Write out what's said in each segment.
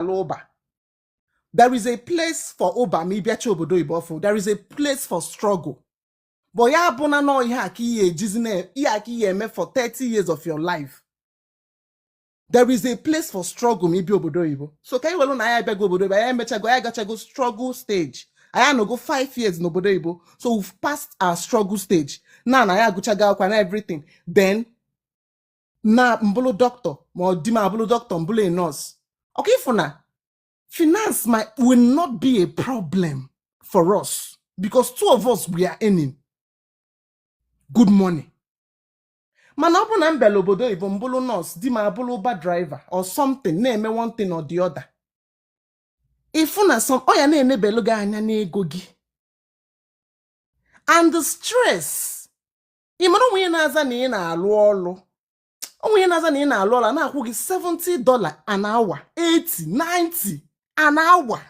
ala Uber there is a place for Uber ma ị bịacha obodo oyibo ọfụụ there is a place for struggle but ya bụ na nọ ihe a ka ị ya-ejizi na ihe a ka ị ya-eme for 30 years of your life there is a place for struggle ma ị bịa obodo oyibo so ka anyị welu na anyị abịago obodo oyibo anyị emechago anyị agachago struggle stage anyị anọgo 5 years n'obodo oyibo so we've passed our struggle stage na na anyị agụchago akwụkwọ na everything then na m bụlụ doctor or di m abụlụ doctor m bụlụ a nurse okay ị fụ na finance m will not be a problem for us because two of us we are earning good money mana ọ bụrụ na m bịala obodo oyibo m bụrụ nurse di m abụrụ Uber driver or something na-eme one thing or the other ị fụ na some ọ ya na-enebelu gị anya n'ego gị and the stress ị mara o nwee ihe ị na-aza na ị na-alụ ọlụ o nwee ihe ị na-aza na ị na-alụ ọlụ na-akwụ gị 70 dollar an hour 80 90 an hour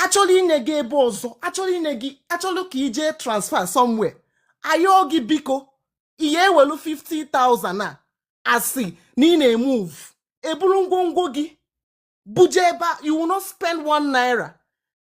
achọrọ inye gị ebe ọzọ achọrọ inye gị achọrọ ka i jee transfer somewhere ayọọ gị biko ihe ewelu 50,000 a sị na ị na-emove eburu ngwongwo gị buje ebe you will not spend one naira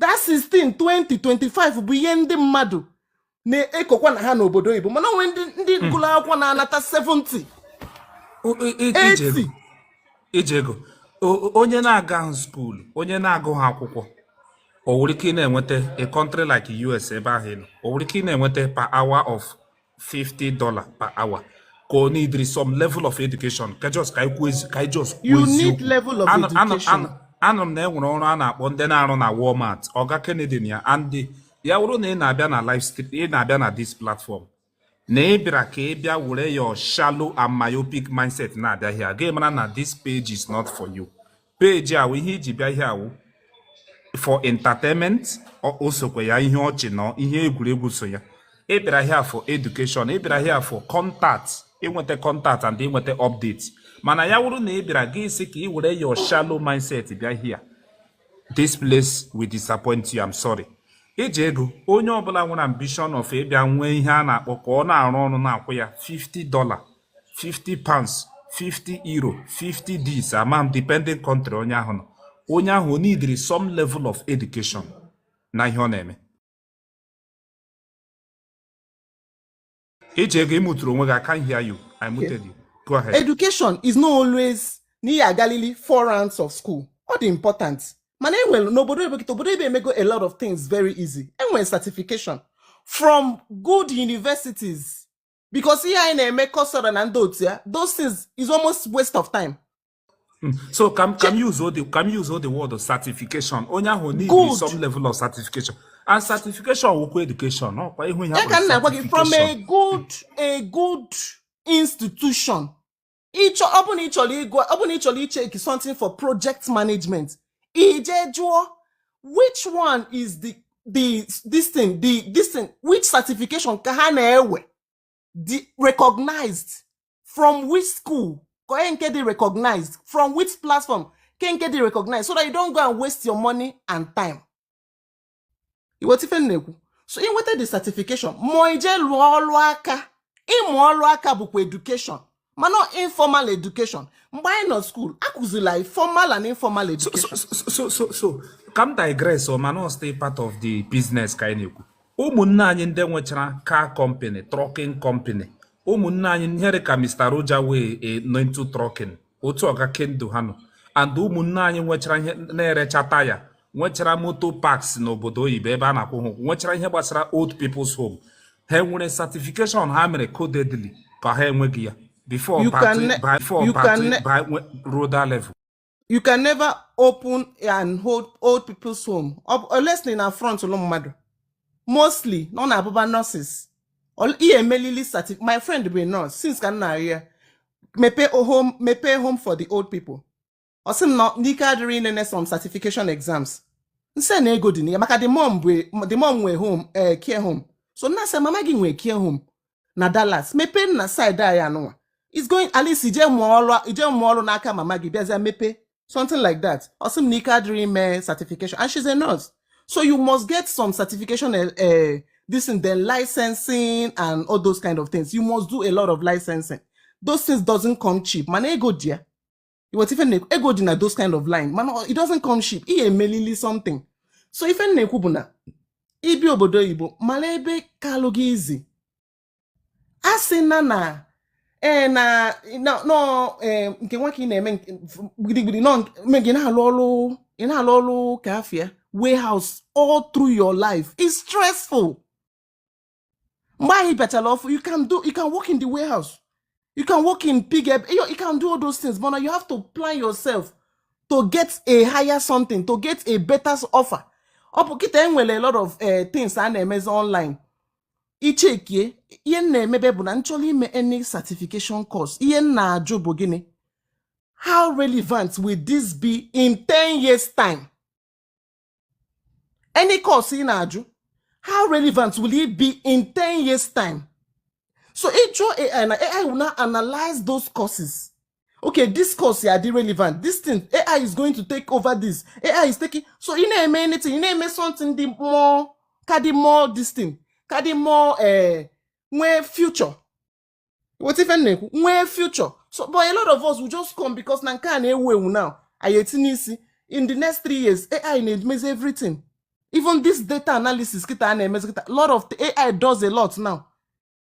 that 16 20 25 bụ ihe ndị mmadụ na-ekokwa na ha n'obodo oyibo mana o nwere ndị ndị hmm. gụrụ akwụkwọ na-anata 70 80 Ijego onye na-agahụ school onye na-agụhụ akwụkwọ o nwere ike ị na-enweta a country like US ebe ahụ ị nọ o nwere ike ị na-enweta per hour of 50 dollar per hour ka ọ needịrị some level of education ka just ka ikwu ezi ka just you need level of education anụrụ m na enwere ọrụ a na-akpọ ndị na-arụ na Walmart ọga Kennedy na ya and ya wụrụ na ị na-abịa na live stream ị na-abịa na this platform na ị bịara ka ị bịa were your shallow and myopic mindset na-abịa here ị ga-amara na this page is not for you page a wụ ihe i ji bịa here wụ for entertainment o sokwa ya ihe ọchị na ihe egwuregwu so ya ị bịara here for education ị bịara here for contact inweta contact and inweta update mana ya wụrụ na ị bịara gị sị ka ị were your shallow mindset bịa here this place will disappoint you I'm sorry Ijego onye ọbụla nwere ambition of ịbịa nwee ihe a na-akpọ ka ọ na-arụ ọrụ na-akwụ ya 50 dollar 50 pounds 50 euro 50 this amount depending country onye ahụ nọ onye ahụ o needịrị some level of education na ihe ọ na-eme Ijego ị muturu onwe gị I can't hear you I muted you go ahead education is not always na ị ya-agalili four rounds of school ọ dị important mana enwere n'obodo ebe a kịta obodo ebe emego a lot of things very easy enwere certification from good universities because ihe anyị na-eme Coursera na ndị otu ya those things is almost waste of time hmm. so ka m useọ the ka m useọ the word certification onye ahụ need some level of certification and certification wụkwa education ọkwa ị hụ ihe ya ka m na-agwa gị from a good a good institution ịchọ ọ bụrụ na ị chọrọ ịgụ ọ bụrụ na ị chọrọ icheki something for project management i je jụọ which one is the the this thing the this thing which certification ka ha na-ewe dị recognized from which school ka nke dị recognized from which platform ka nke dị recognized so that you don't go and waste your money and time i weta ife m na-ekwu so inweta the certification ma i je lụọ ọlụ aka ịmụ ọlụ aka bụkwa education mana informal education mgbe anyị nọ skuul a kụzili anyị formal and informal education so so so ka m digress o mana still part of the business ka anyị na-ekwu ụmụnne anyị ndị nwechara car company trucking company ụmụnne anyị nhere ka Mr. Roger wee eh, nọ into trucking otu ọga kendo ha nọ and ụmụnne anyị nwechara ihe na-erecha taya nwechara motor parks n'obodo oyibo ebe a na-akwụ ha ụgwọ nwechara ihe gbasara old people's home ha nwere certification ha mere codedly ka ha enweghị ya before ruo that level you can never open an old old people's home unless na front ụlọ mmadụ mostly na ọ na-abụba nurses Ol- ị ya-emelili certi my friend bụ a nurse since ka m na-arịọ ya mepee home mepee home for the old people ọ sị m na ike adịrọ ya inene some certification exams m sị na ego dị na ya maka the mom bụ the mom nwee home ee care home so m na-asị mama gị nwee care home na Dallas mepee na side anyị anụnwa is going at least i je mụọ ọrụ i je mụọ ọrụ n'aka mama gị bịazịa mepee something like that ọ sị m na ike adịrọ ya ime certification and she's a nurse so you must get some certification uh, uh, this and then licensing and all those kind of things you must do a lot of licensing those things doesn't come cheap mana ego dị ya i weta ife m na-ekwu ego dị na those kind of line mana it doesn't come cheap ị ya-emelili something so ife m na-ekwu bụ na i bi obodo oyibo mara ebe kalụ gị izi a sị na na ee eh, na nọ eh, nke nwa ka ị na-eme gidigidi nọ gị na-alụ ọrụ ị na-alụ ọrụ ka afịa warehouse all through your life is stressful mgbe ị bịachara ọfụ you can do you can work in the warehouse you can work in pig you can do all those things but now you have to plan yourself to get a higher something to get a better offer but kịta e nwere a lot of eh, things a na-emezi online ị checkie ihe m na-emebe bụ na m chọrọ ime any certification course ihe m na-ajụ bụ gịnị how relevant will this be in 10 years time any course ị na-ajụ how relevant will it be in 10 years time so ị jụọ ai na ai will now analyze those courses okay this course ya-adị relevant this thing ai is going to take over this ai is taking so ị na-eme anything ị na-eme something dị more ka dị more this thing ka dị more eh, nwee future wọta ife m na-ekwu nwee future so but a lot of us will just come because na nke a na-ewu ewu now anyị etinye isi in the next three years ai na-emezi everything even this data analysis kịta a na-emezi kịta lot of ai does a lot now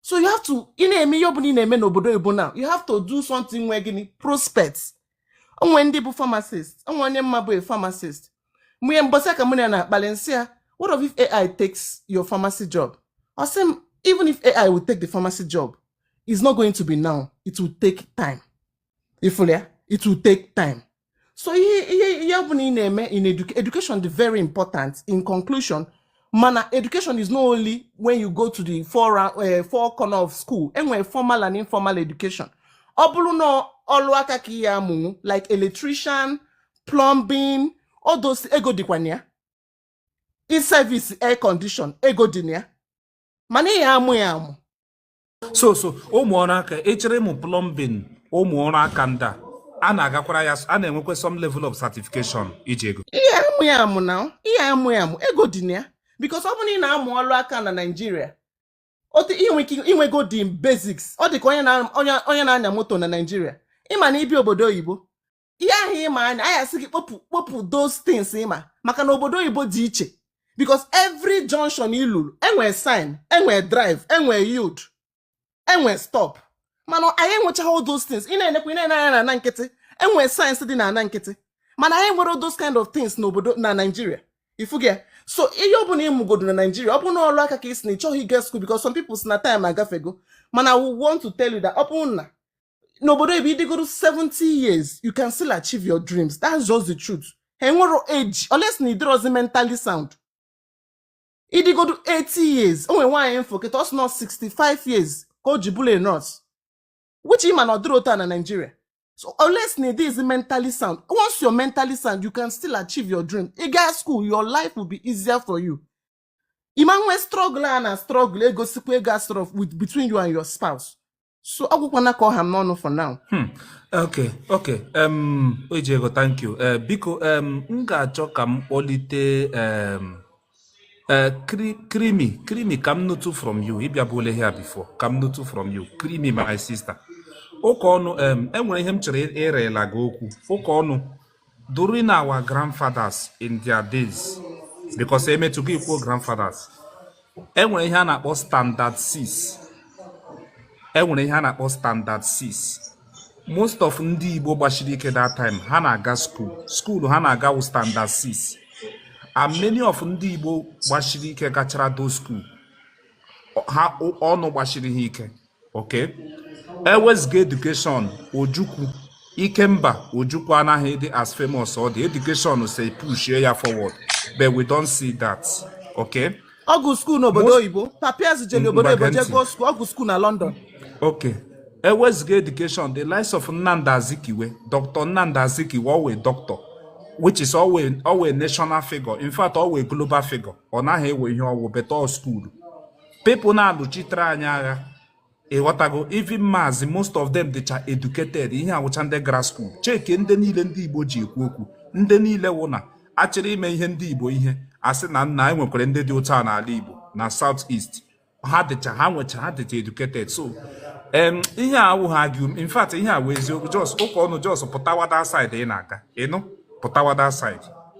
so you have to ị na-eme ihe ọbụla ị na-eme n'obodo oyibo na you have to do something nwe gịnị prospect o nwe ndị bụ pharmacist o nwe onye m ma bụ a pharmacist mgbe mbọsị ka mụ na ya na-akpali m sị ya what of if ai takes your pharmacy job ọ sị m even if ai will take the pharmacy job it's not going to be now it will take time ifulia it will take time so ihe ihe ihe ọbụla ị na-eme in educa- education dị very important in conclusion mana education is not only when you go to the four, ra- eh, four corner of school e nwere formal and informal education ọ bụrụ na ọlụ aka ka ị ya-amụnwu like electrician plumbing all those ego dịkwa na ya i service air condition ego dị na ya mana ị ya-amụ ya amụ so so ụmụ ọrụ aka ị chọrọ ịmụ plumbing ụmụ ọrụ aka ndị a a na-agakwara ya a na-enwekwa some level of certification iji ego ị ya-amụ ya amụ na ị ya-amụ ya amụ ego dị na ya because ọ bụrụ na ị na-amụ ọrụ aka na naijiria otu i nwe ike i nwego the basics ọ dị ka onye na-anya moto na naijiria ị ma na ị bịa obodo oyibo ihe ahụ ịma anya a ya-asị gị kpopụ kpopụ those things ịma maka na obodo oyibo dị iche because every junction i luru enwee sign enwee drive enwee yield enwee stop mana anyị enwechaghị all those things ị na-enekwa ị na-ene anya na ana nkịtị enwee signs dị na ana nkịtị mana anyị enwerọ all those kind of things n'obodo na Nigeria ị fụgo so ihe ọ bụla ị mụgodo na Nigeria ọ bụ na ọrụ aka ka ị sị na ị chọghị ịga school because some people sị na time agafego mana I want to tell you that ọ bụrụ na n'obodo oyibo ị dịgodo 70 years you can still achieve your dreams that's just the truth ha enwerọ age unless na ị dịrọzi mentally sound ị dịgodo 80 years o nwere nwaanyị m fụ kịta ọ sị na ọ 65 years ka o ji bụrụ a nurse which ị ma na ọ dịrọ otu a na Nigeria so unless na ị dịrọzi mentally sound once you're mentally sound you can still achieve your dream ị gaa school your life will be easier for you ị ma-enwe struggle a na struggle egosikwa ego asọrọ with between you and your spouse so ọ gwụkwana ka ọ ha m n'ọnụ for now Hmm. Okay, okay. Um, Ojego, thank you. Uh, biko, um, m ga-achọ ka m kpọlite um, uh, cre creamy, creamy ka m nụtụ from you. Ị bịabụla here before, ka m nụtụ from you. Creamy, my sister. Ụka ọnụ, um, enwere ihe m chọrọ ịrịla gị okwu. Ụka ọnụ, during our grandfathers in their days because emetụgo ikwu grandfathers enwere ihe a na-akpọ standard 6 enwere ihe a na-akpọ standard 6 most of ndị Igbo gbasiri ike that time ha na-aga school school ha na-aga wụ standard 6 and many of ndị Igbo gbasiri ike gachara do school ha ọnụ gbasiri ha ike Okay. Ewezuga education Ojukwu Ikemba Ojukwu anaghị dị as famous ọ dị education so push ya forward but we don't see that. Okay. Ọ gụ school n'obodo oyibo papa ya zijeli obodo oyibo jee gụọ school ọ gụ school na London. Okay. Ewezuga education the likes of Nnamdi Azikiwe Dr. Nnamdi Azikiwe ọ wụ doctor which is ọ wụ ọ wụ national figure in fact ọ wụ global figure ọ naghị enwe ihe ọ wụ but school people na-alụchitere anyị agha ịghọtago even maazị most of them dịcha educated ha wụcha ndị gara school check ndị niile ndị igbo ji ekwu okwu ndị niile wụ na achọrọ ime ihe ndị igbo ihe asị na nna anyị nwekwara ndị dị ụta n'ala igbo na south east ha dịcha ha nwecha ha dịcha educated so ihe a awụghị agụ in fact ihe a wụ eziokwu just ụka ọnụ just pụtawada side ị na-aga ịnụ pụtawada side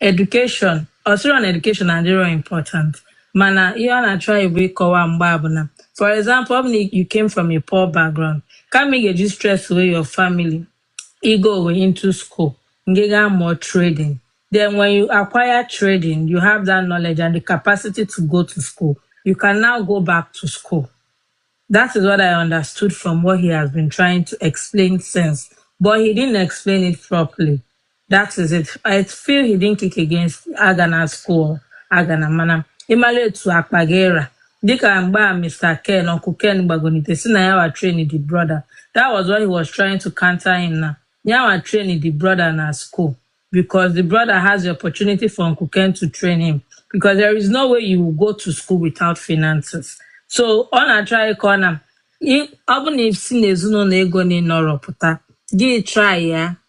Education, ọ sịrọ na education adịrọ important mana ihe ọ na-achọ anyị bụ ịkọwa mgbe a bụ na for example ọ bụ na you came from a poor background kama ị ga-eji stress wey your family you go away into school you get more trading then when you acquire trading you have that knowledge and the capacity to go to school you can now go back to school that is what i understood from what he has been trying to explain since but he didn't explain it properly That is it. I feel he didn't kick against Agana school, Agana mana ịmala etu akpa gị ra dịka mgbe a Mr. Ken Uncle Ken gbagote sị na ya wa train the brother that was what he was trying to counter him na ya wa train the brother na school because the brother has the opportunity for Uncle Ken to train him because there is no way you will go to school without finances so ọ na-try ịkọ na ọ bụ na i si n'ezinụlọ ego na-anọrọ pụta gị try ya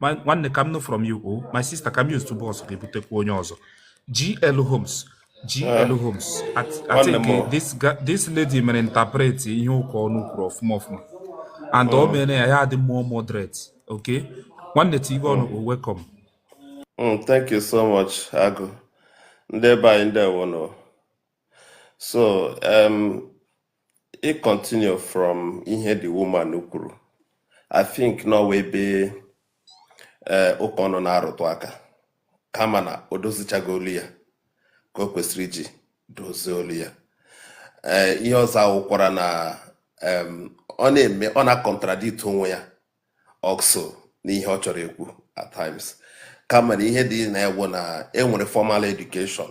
My nwanne ka m nụ from you o oh. my sister ka m use tubo ọsọ ga-ebutekwa onye ọzọ GL Homes GL eh. Homes I think eh, this this lady mere interpret ihe ụka ọnụ kwuru ọfụma ọfụma and ọ oh. mere ya ya adị more moderate okay nwanne tigwe ọnụ o oh. welcome mm, thank you so much Agụ ndị be anyị ndewo so um, ị continue from ihe the woman kwuru I think n'ọ wụ ebe eh, ụka ọnụ na-arụtụ aka kama na o dozichaghị olu ya ka o kwesịrị iji dozie olu ya ee eh, ihe ọzọ awụkwara na ọ na-eme ọ na-acontradict onwe ya also n'ihe ọ chọrọ ikwu at times kama na ihe dị na ya wụ na enwere formal education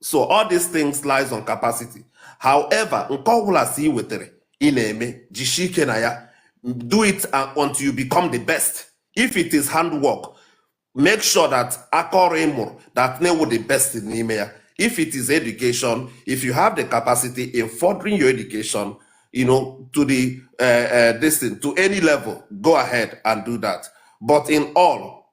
so all these things lies on capacity however nke ọbụla si ị wetara ị na-eme jisie ike na ya do it uh, until you become the best if it is handwork make sure that aka ọrụ ị mụrụ that na ị wụ the best n'ime ya if it is education if you have the capacity in furthering your education you know to the uh, uh, this thing to any level go ahead and do that but in all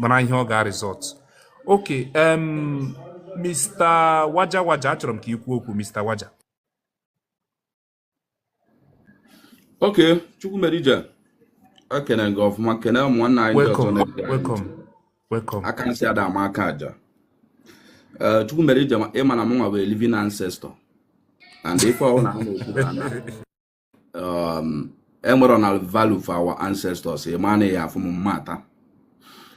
mara ihe ọ ga-a result okay Mr. Waja Waja achọrọ m ka ị kwuo okwu Mr. Waja okay Chukwumereije ekene gị ọfụma kene ụmụnna anyị ndị ọzọ na-ege aka nsị ada ama aka aja eh, Chukwumereije ịma na mụnwa bụ living ancestor and ife ọhụrụ na ha na-ekwu um, enwere na value for our ancestors ịma na ya afụ m mmata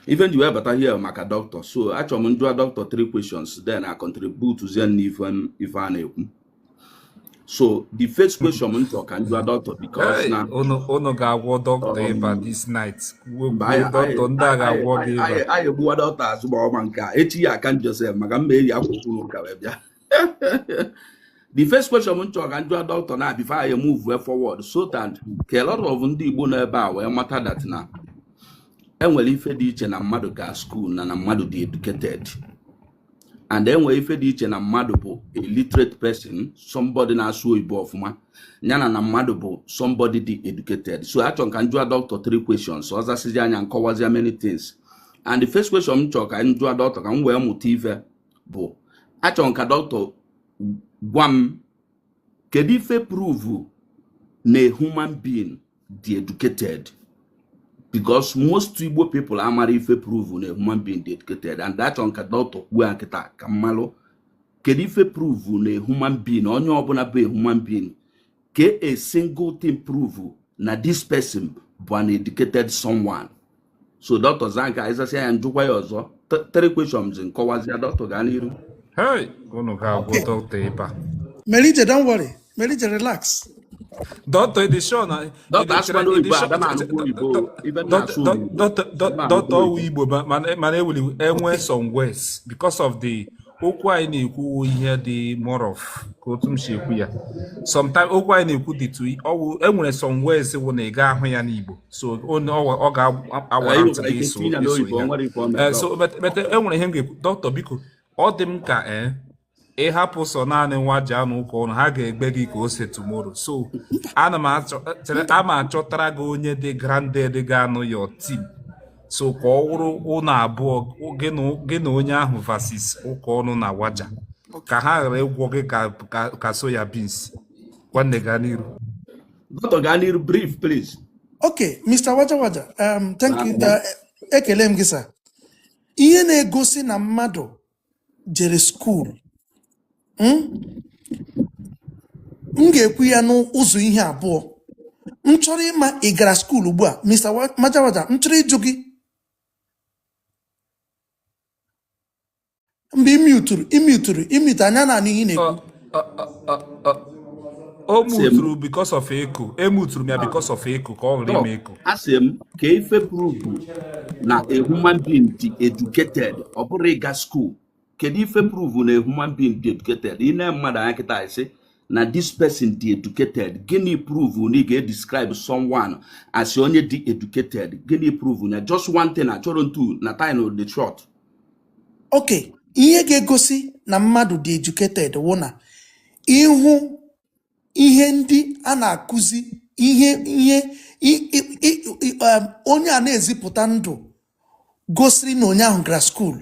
ife nji wee bata here maka doctor so achọrọ m njụa doctor three questions then I contribute zie na ife m- ife a na-ekwu so the first question m chọrọ ka njụa doctor because Hey, na unu unu ga-agwọ dọkịta ịba um, this night kwuo mba kwuo anyị anyị dọkịta ndị a anyị ga-agwọ gị anyị ịba anyị anyị egbuwa doctor azụ ma ọma nke a echi ya aka njọ sef maka m ma-eji akwụkwọ ụka wee bịa the first question m chọrọ ka njụa doctor na before anyị move forward so that ka a lot of ndị Igbo nọ ebe a wee mata that na enwere ife dị iche na mmadụ ga school na na mmadụ dị educated and enwere ife dị iche na mmadụ bụ a literate person somebody na-asụ oyibo ọfụma yana na mmadụ bụ somebody dị educated so achọ ka njụa doctor three questions ọ zasịzịa ya nkọwazia many things and the first question m chọrọ ka njụa doctor ka m wee mụta ife bụ achọ m ka doctor gwa m kedu ife prove na human being dị educated because most igbo people amara ife prove na human being dị educated and achọ m ka doctor kwuo ya kịta ka m malụ kedu ife prove na human being onye ọbụna bụ human being ka a single thing prove na this person bụ an educated someone so dọkịta zaa nke a ị zasịa ya njụkwa ya ọzọ three questions nkọwazịa dọkịta gaa n'iru hey unu ga-agwọ dọkịta ịba melite don't worry melite relax Dọkịta ị dị sure na dọkịta asụkwana oyibo ada m anụkwa oyibo ibe m na-asụ oyibo dọkịta ọwụ igbo mana ewuli enwe some words because of the okwu anyị na-ekwu ihe dị more of ka otu m si ekwu ya sometimes okwu anyị na-ekwu dịtụ ọwụ enwere some words wụ na ị ga ahụ ya n'Igbo so ọ ga-awa ntị gị iso eh, so mete enwere ihe m ga-ekwu dọkịta biko ọ dị m ka ee eh, ị hapụ sọ naanị nwa ji anụ ụka ọnụ ha ga-egwe gị ka ose tomorrow so ana m achọtara gị onye dị grounded ga-anọ your team so ka ọ wụrụ ụnụ abụọ gị na onye ahụ versus ụka ọnụ na waja ka ha ghara ịgwọ gị ka soya beans nwanne gaa n'iru dọkịta gaa n'iru brief please okay mr waja waja um, thank you ah, uh, ekele m gị sir ihe na-egosi na mmadụ jere skuul m m ga-ekwu ya n'ụzọ ihe abụọ m chọrọ ịma ị gara skuul ugbu a Mr. Wa- Majawaja m chọrọ ịjụ gị mgbe ị muturu ị muturu ị mute anyị ana-anụ ihe ị na-ekwu o muturu because of echo emuturu m ya because of echo ka ọ ghara ime echo asị m kee ife pruvu na a human being dị educated ọ bụrọ ịga skuul kedu ife pruvu na a human being dị educated i nee mmadụ anya kịta ị sị na this person dị educated gịnị pruvu na ị ga-edescribe someone as onye dị educated gịnị pruvu na just one thing achọrọ m two na time dị short okay ihe ga-egosi na mmadụ dị educated wụ na ị hụ ihe ndị a na-akụzi ihe ihe um, onye a na-ezipụta ndụ gosiri na onye ahụ gara skuulu